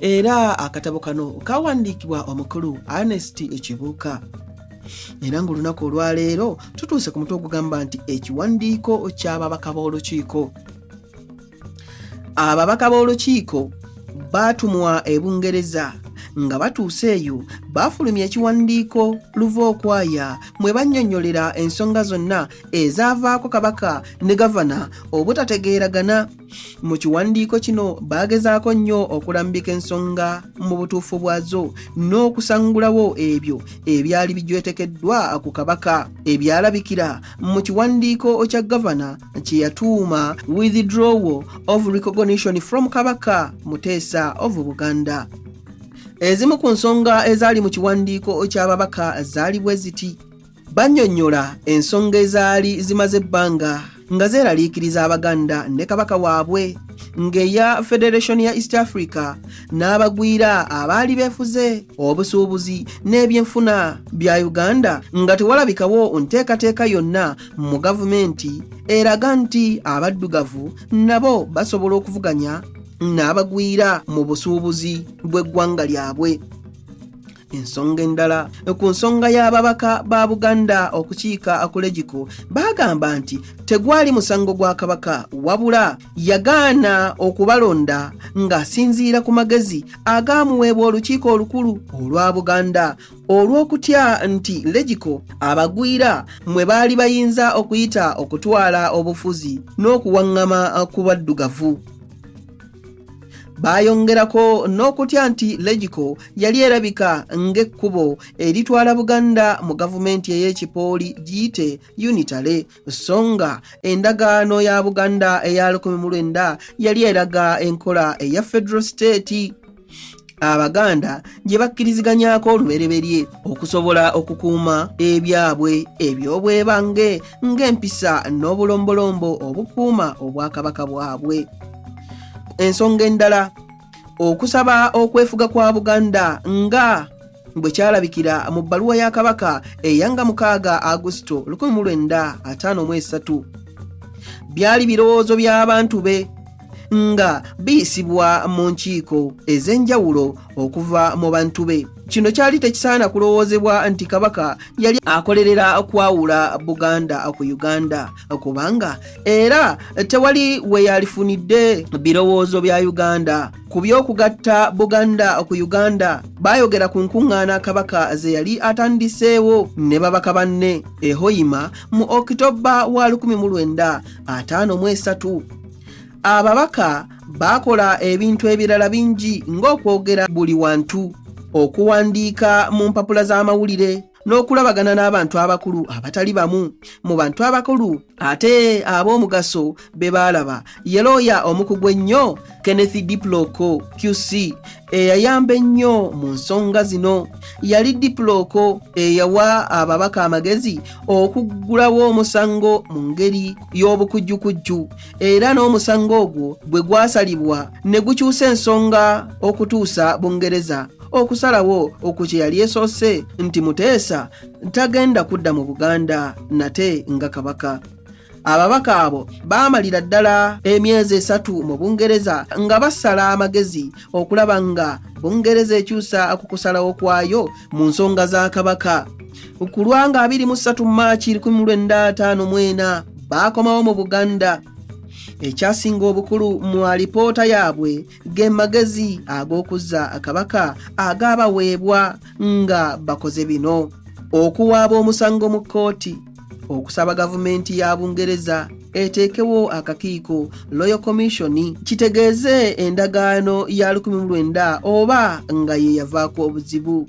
era akatabo kano kawandiikibwa omukulu anesti ekibuuka era ng'olunaku olwaleero tutuuse ku mutwe ogugamba nti ekiwandiiko ky'ababaka b'olukiiko ababaka b'olukiiko baatumwa ebungereza nga batuuse eyo baafulumya ekiwandiiko luva okwaya mwe bannyonnyolera ensonga zonna ezaavaako kabaka ne gavana obutategeeragana mu kiwandiiko kino baagezaako nnyo okulambika ensonga mu butuufu bwazo n'okusangulawo ebyo ebyali bijwetekeddwa ku kabaka ebyalabikira mu kiwandiiko kya gavana kye yatuuma withdrawal of recognition from kabaka muteesa of buganda ezimu ku nsonga ezaali mu kiwandiiko ky'ababaka zaali bwe ziti bannyonnyola ensonga ezaali zimaze ebbanga nga zeeraliikiriza abaganda ne kabaka waabwe ng'eya federation ya east africa n'abagwira abaali beefuze obusuubuzi n'ebyenfuna bya uganda nga tewalabikawo nteekateeka yonna mu gavumenti eraga nti abaddugavu nabo basobola okuvuganya n'abagwira mu busuubuzi bw'eggwanga lyabwe ensonga endala ku nsonga y'ababaka ba buganda okukiika akulejiko baagamba nti tegwali musango gwa kabaka wabula yagaana okubalonda ng'asinziira ku magezi agaamuweebwa olukiiko olukulu olwa buganda olw'okutya nti legiko abagwira mwe baali bayinza okuyita okutwala obufuzi n'okuwaŋŋama ku baddugavu Baayongerako n'okutya nti Legico yali erabika ng'ekkubo eritwala Buganda mu gavumenti ey'ekipooli giyite Unitale, so nga endagaano ya Buganda eya 1900 yali eraga enkola eya Federal State. abaganda gye bakkiriziganyako olubereberye okusobola okukuuma ebyabwe eby'obwebange ng'empisa n'obulombolombo obukuuma obwakabaka bwabwe ensonga endala okusaba okwefuga kwa buganda nga bwe kyalabikira mu bbaluwa ya kabaka eyanga mukaaga agusito 1953 byali birowoozo by'abantu be nga biyisibwa mu nkiiko ez'enjawulo okuva mu bantu be kino kyali tekisaana kulowoozebwa nti kabaka yali akolerera kwawula buganda ku uganda kubanga era tewali we yalifunidde birowoozo bya uganda Ku by'okugatta Buganda ku Uganda baayogera ku nkuŋŋaana Kabaka ze yali atandiseewo ne babaka banne e Hoima mu Okitobba wa 1953. Ababaka baakola ebintu ebirala bingi ng'okwogera buli wantu, okuwandiika mu mpapula z'amawulire, n'okulabagana n'abantu abakulu abatali bamu mu bantu abakulu ate ab'omugaso be baalaba ye looya omukugu ennyo kenneth diploko qc eyayamba ennyo mu nsonga zino yali diploko eyawa ababaka amagezi okuggulawo omusango mu ngeri y'obukujjukujju era n'omusango ogwo bwe gwasalibwa ne gukyusa ensonga okutuusa bungereza okusalawo oku kye yali esoose nti Muteesa tagenda kudda mu Buganda nate nga Kabaka. Ababaka abo baamalira ddala emyezi esatu mu Bungereza nga basala amagezi okulaba nga Bungereza ekyusa ku kusalawo kwayo mu nsonga za Kabaka. Ku lwanga 23 Maaci 1954 baakomawo mu Buganda. Ekyasinga obukulu mu alipoota yaabwe ge magezi ag'okuzza akabaka agaabaweebwa nga bakoze bino okuwaaba omusango mu kkooti okusaba gavumenti ya bungereza eteekewo akakiiko loyo komishoni kitegeeze endagaano ya 19 oba nga ye yavaako obuzibu